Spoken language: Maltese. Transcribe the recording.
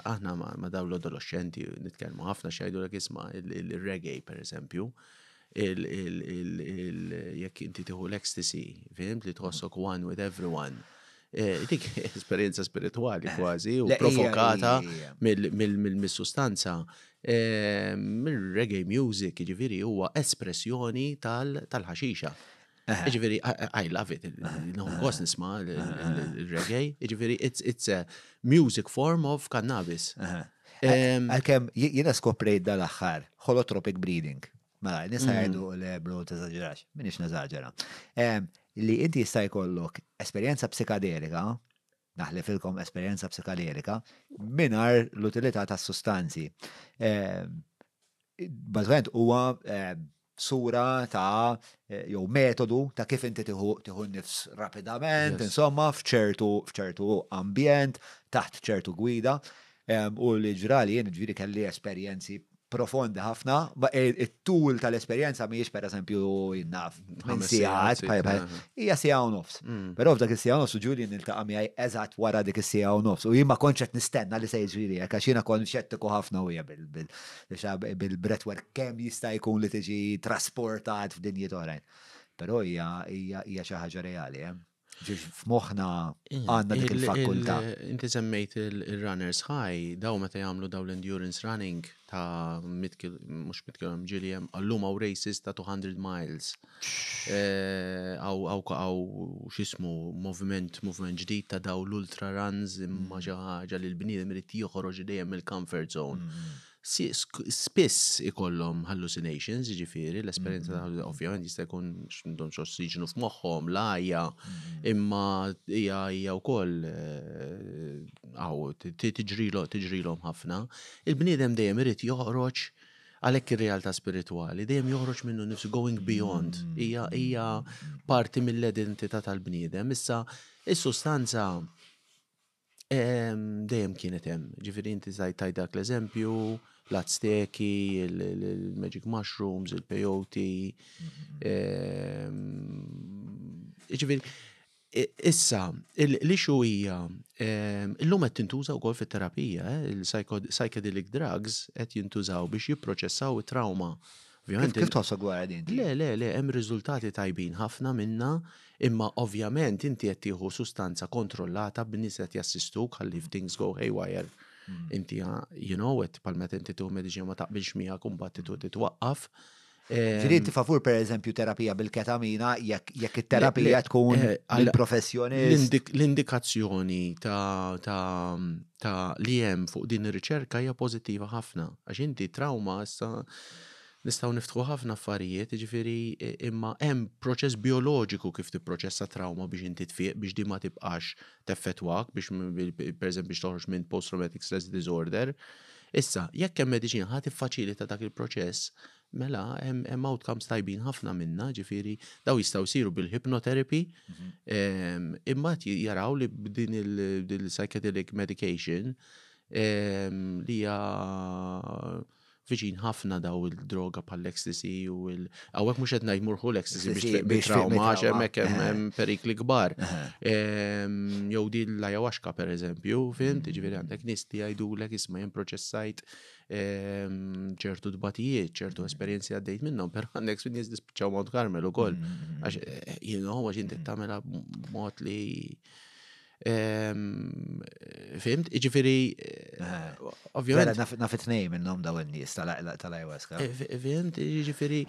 Aħna ma' dawn l-adoloxxenti nitkellmu ħafna x'jgħidulek isma' il-reggae pereżempju, jekk inti tieħu l-ecstasy, fim, li tħossok one with everyone. Eh, dik esperjenza spiritwali kważi u provokata mill-sustanza. Ehm, Mill-reggae music, ġifiri, huwa espressjoni tal-ħaxixa. Ġifiri, I love it, nħonkos nisma il-reggae, ġifiri, it's a music form of cannabis. Għalkem, jina skoprejt dal-axħar, holotropic breeding. Mela, nisa mm. għajdu le bro t-eżagġerax, minix neżagġera. Li inti jista' jkollok esperjenza psikadelika Naħlifilkom esperjenza psikaderika mingħajr l-utilità tas-sustanzi. Bażwent huwa sura ta' jew metodu ta' kif inti tieħu nifs rapidament, insomma, f'ċertu f'ċertu ambjent, taħt ċertu gwida, u li ġrali jien ġifieri kelli esperjenzi profondi ħafna, it-tul tal-esperjenza mhijiex pereżempju naf minn sigħat, hija siegħa u nofs. Mm. Però f'dak is-siegħa nofs Ġulji niltaqa' miegħi eżatt wara dik is-siegħa u nofs u jien ma kontx qed nistenna li se jiġri hekk għax jiena kont xettiku ħafna u hija bil-breathwork kemm jista' jkun li tiġi trasportat f'dinjiet oħrajn. Però hija xi ħaġa reali. Eh. Ġiġ f'moħna għanna dik il-fakulta. Inti semmejt il-runners high, daw meta jagħmlu daw l-endurance running ta' mux mitkil ġiljem, għallum għaw races ta' 200 miles. Għaw eh, għaw xismu moviment, moviment ġdid ta' daw l-ultra runs imma mm. ġaħġa li l-bniedem irid joħroġ dejjem il comfort zone. Mm. spiss ikollhom hallucinations, jiġifieri l-esperjenza ta' mm-hmm. ovvjament jista' jkun x'indhom x'ossiġnu f'moħħhom, l-għajja, mm-hmm. imma hija hija wkoll għaw eh, tiġrilhom tiġrilhom ħafna. Il-bniedem dejjem irid joħroġ għalhekk ir-realtà spiritwali dejjem joħroġ minnu nifsu going beyond mm-hmm. hija hija parti mill-identità tal-bniedem. Issa is-sustanza Dejjem kienet hemm, ġifieri inti tajt dak l-eżempju, l-Azteki, il-magic mushrooms, il-peyote. Ġifieri, issa, l-issue hija, illum qed tintuża wkoll fit-terapija, il-psychedelic drugs qed jintużaw biex jipproċessaw it-trawma Ovvjament. Kif tħossok wara din? Le, le, le, hemm riżultati tajbin ħafna minna, imma ovvjament inti qed tieħu sustanza kontrollata b'nies qed jassistuk ħalli if things go haywire. Hmm. Inti you know it pal meta inti tieħu mediċina ma taqbilx miegħek u mbagħad titu titwaqqaf. Ġiri inti favur per eżempju terapija bil-ketamina jekk it-terapija tkun eh, għal professjoni L-indikazzjoni ta' ta' li hemm fuq din ir-riċerka hija pożittiva ħafna għax inti trawma issa nistgħu niftħu ħafna affarijiet, jiġifieri imma hemm proċess bioloġiku kif tipproċessa trawma biex inti tfiq biex di ma tibqax teffettwak biex pereżempju biex toħroġ minn post traumatic stress disorder. Issa, jekk hemm mediċina ħadd tiffaċilita dak il-proċess Mela, hemm outcomes tajbin ħafna minna, ġifiri, daw jistaw siru bil-hypnotherapy, mhm. imma jaraw li b'din il-psychedelic medication li hija viċin ħafna daw il-droga pal-ecstasy u il- għawek mux għetna jmurħu l-ecstasy biex trauma ġemmek hemm perikli kbar. Jow di l-ayahuasca per eżempju, fint, mhm. ġviri għandek nisti għajdu l-ek isma jem proċessajt ċertu dbatijiet, ċertu esperjenzi għaddejt minnhom, per għandek nies dispiċċaw Mount Carmel ukoll. Mm, mm, mm. Għax eh, jien huwa x'inti tagħmilha b'mod li Fimt, iġifiri, eh, ovvijament. Naf it-nej minnom daw n-nis tal-ayahuasca. Eh, fimt, iġifiri,